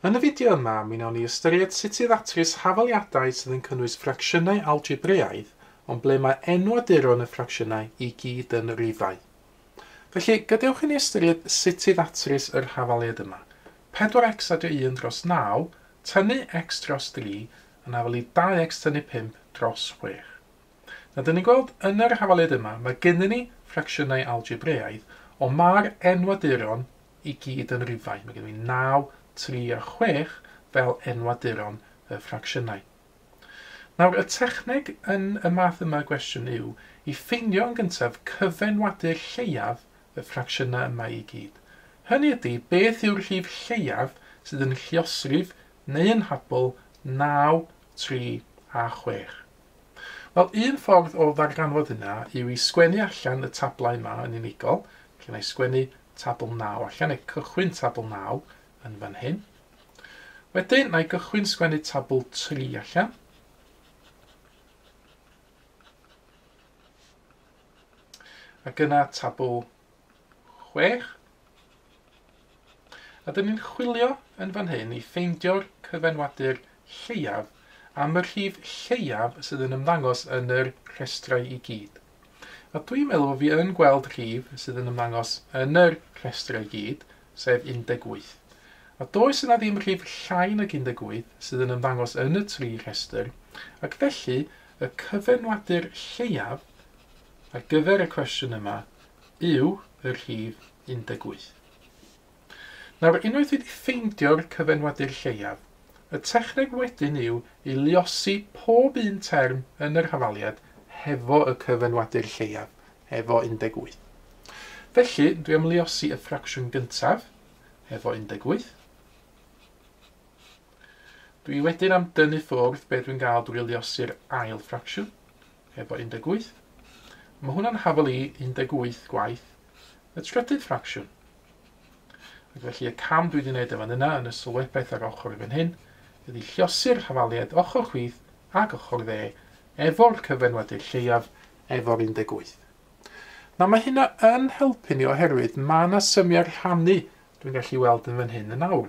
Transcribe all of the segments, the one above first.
Yn y fideo yma, mi wnawn ni ystyried sut i ddatrys hafaliadau sydd yn cynnwys ffracsiynau algebreaidd ond ble mae enwaduron y ffracsiynau i gyd yn rifau. Felly, gadewch i ni ystyried sut i ddatrys yr hafaliad yma, 4x a dy 1 dros 9 tynnu x dros 3 yn afel i 2x tynnu 5 dros 6. Nawr, dyn ni'n gweld yn yr hafaliad yma, mae gennyn ni ffracsiynau algebreaidd, ond mae'r enwaduron i gyd yn rifau. Mae gen i 9, 3 a 6 fel enwaduron y ffracsiynau. Nawr, y techneg yn y math yma gwestiwn yw i ffeindio yn gyntaf cyfenwadur lleiaf y ffracsiynau yma i gyd. Hynny ydy, beth yw'r rhif lleiaf sydd yn lliosrif neu yn habl 9, 3 a 6. Wel, un ffordd o ddarganfod hynna yw i sgwennu allan y tablau yma yn unigol. Felly wna i sgwennu tabl 9 allan, neu cychwyn tabl 9 yn fan hyn. Wedyn, wna i gychwyn sgwennu tabl 3 allan. Ac yna tabl chwech. A dyn ni'n chwilio yn fan hyn i ffeindio'r cyfenwadur lleiaf am y rhif lleiaf sydd yn ymddangos yn yr rhestrau i gyd. A dwi'n meddwl fi yn gweld rhif sydd yn ymddangos yn yr rhestrau i gyd, sef 18. A does yna ddim rhif llai nag 18 sydd yn ymddangos yn y tri rhestr, ac felly y cyfenwadur lleiaf ar gyfer y cwestiwn yma yw y rhif 18. Nawr, unwaith wedi ffeindio'r cyfenwadur lleiaf, y techneg wedyn yw i luosi pob un term yn yr hafaliad hefo y cyfenwadur lleiaf, efo 18. Felly, dwi am luosi y ffracsiwn gyntaf, efo 18. Dwi wedyn am dynnu ffwrdd be dwi'n gael drwy luosi'r ail ffracsiwn, heb o 18. Mae hwnna'n hafal i 18 gwaith y trydydd ffracsiwn. Ac felly y cam dwi wedi gwneud efo yna yn y sylwebaeth ar ochr i fan hyn ydy lliosi'r hafaliad ochr chwith ac ochr dde efo'r cyfenwadur lleiaf efo'r 18. Nawr mae hynna yn helpu ni oherwydd mae yna symiau rhannu dwi'n gallu weld yn fan hyn yn awr.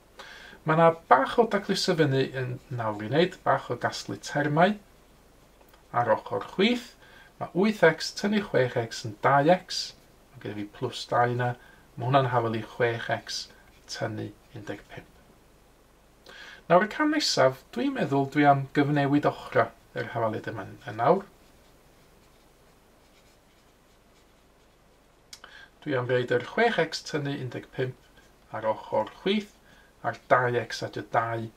Mae yna bach o dacluso fyny yn nawr i wneud, bach o gasglu termau. Ar ochr chwith, mae 8x tynnu 6x yn 2x, mae gen i fi plus 2 yna, mae hwnna'n hafel i 6x tynnu 15. Nawr y cam nesaf, dwi'n meddwl dwi am gyfnewid ochrau yr hafaliad yma yn nawr. Dwi am reid yr 6x tynnu 15 ar ochr chwith a'r 2x a dy 2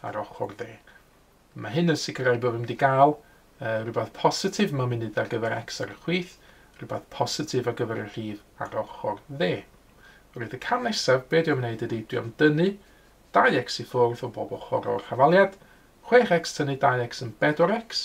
ar ochr dde. Mae hyn yn sicrhau bod fi'n mynd i gael uh, rhywbeth positif mewn munud ar gyfer x ar y chwith, rhywbeth positif ar gyfer y rhif ar ochr dde. Roedd y cam nesaf, be dwi am wneud ydy, dwi am dynnu 2x i ffwrdd o bob ochr o'r hafaliad, 6x tynnu 2x yn 4x,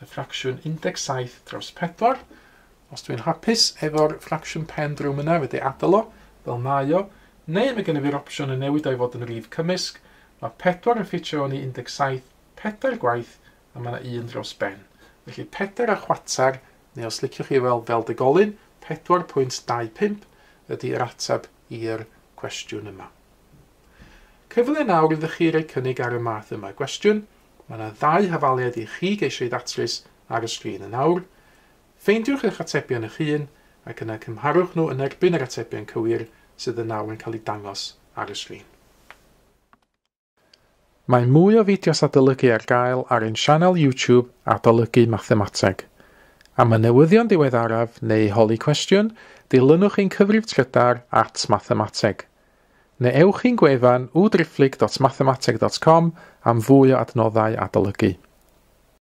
y ffracsiwn 17 dros 4. Os dwi'n hapus efo'r ffracsiwn pen drwm yna, fedrai adael o fel mae o, neu mae gennyf i'r opsiwn o newid o i fod yn rif cymysg. Mae 4 yn ffitio fewn i 17 pedair gwaith a mae yna un dros ben. Felly pedair a chwarter, neu os liciwch chi weld fel degolyn, 4.25, ydy yr ateb i'r cwestiwn yma. Cyfle nawr iddo chi roi cynnig ar y math yma gwestiwn, Mae yna ddau hafaliad i chi geisio ei ddatrys ar y sgrin yn awr. Ffeindiwch eich atebion eich hun ac yna cymharwch nhw yn erbyn yr atebion cywir sydd yn awr yn cael eu dangos ar y sgrin. Mae mwy o fideos adolygu ar gael ar ein sianel YouTube Adolygu Mathemateg. Am y newyddion diweddaraf neu holi cwestiwn, dilynwch ein cyfrif trydar at Mathemateg. Neu ewch i'n gwefan www.driphlyg.mathemateg.com am fwy o adnoddau adolygu.